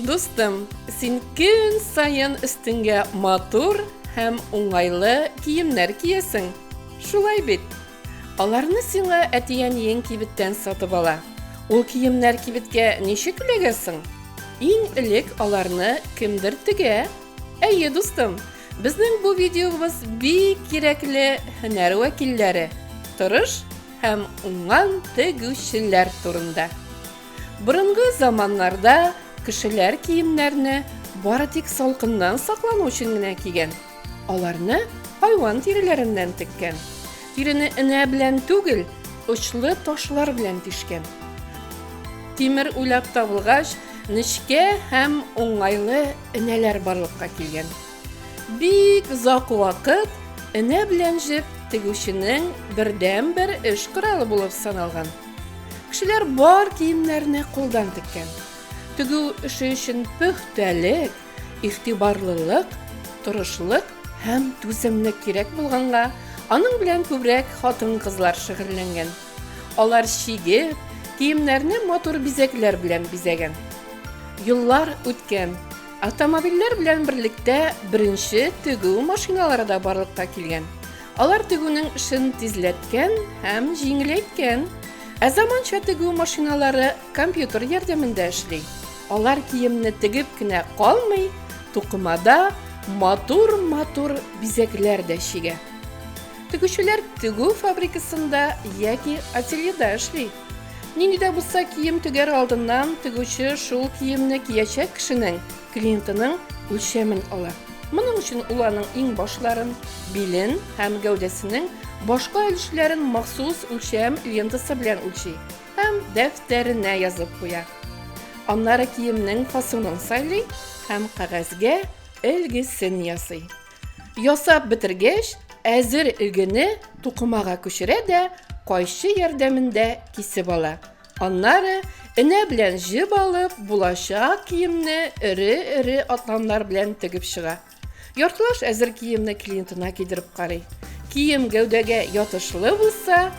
Дустым, син көн саен өстеңгә матур һәм уңайлы киемнәр киесең. Шулай бит. Аларны сиңа әтиәниең кибеттән сатып ала. Ул киемнәр кибеткә ничек эләгәсең? Иң элек аларны кемдер тегә, Әйе, дустым, безнең бу видеобыз бик кирәкле һөнәр вәкилләре, тырыш һәм уңган тегүчеләр турында. Борынгы заманнарда кешеләр киемнәрне бары тик салкыннан саклану өчен генә кигән. Аларны хайван тиреләреннән теккән. Тирене энә белән түгел, очлы ташлар белән тишкән. Тимер уйлап табылгач, нечкә һәм уңайлы Энәләр барлыкка килгән. Бик озак вакыт энә белән җеп тегүченең бердәнбер эш коралы булып саналган. Кешеләр бар киемнәрне кулдан теккән. Тегү эше өчен пөхтәлек, игътибарлылык, тырышлык һәм түземлек кирәк булганга, аның белән күбрәк хатын-кызлар шөгыльләнгән. Алар чигеп, киемнәрне матур бизәкләр белән бизәгән. Юллар үткән. Автомобильләр белән берлектә беренче тегү машиналары да барлыкка килгән. Алар тегүнең эшен тизләткән һәм җиңеләйткән. Ә заманча тегү машиналары компьютер ярдәмендә эшли. Алар киемне тегеп кенә калмый, тукымада матур-матур бизәкләр дә чигә. Тегүчеләр тегү фабрикасында яки ательеда эшли. Нинди дә булса кием төгәр алдыннан тегүче шул киемне киячәк кешенең, клиентының үлчәмен ала. Моның өчен ул аның иң башларын, билен һәм гәүдәсенең башка өлешләрен махсус үлчәм лентасы белән үлчи һәм дәфтәренә язып куя. Аннары киемнең фасонын сайлый һәм кәгазьгә элгесен ясый. Ясап бетергәч, әзер игене тукымага күчерә дә кайчы ярдәмендә кисеп ала. Аннары энә белән җеп алып, булачак киемне эре-эре атланлар белән тегеп чыга. Яртылаш әзер киемне клиентына кидереп карый. Кием гәүдәгә ятышлы булса,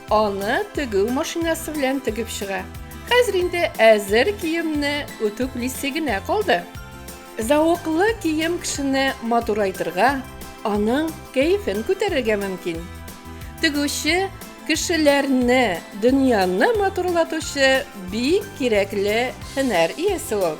аны тегү машинасы белән тегеп чыга. Хәзер инде әзер киемне үтүклисе генә калды. Зәвыклы кием кешене матурайтырга, аның кәефен күтәрергә мөмкин. Тегүче кешеләрне, дөньяны матурлатучы бик кирәкле һөнәр иясе ул.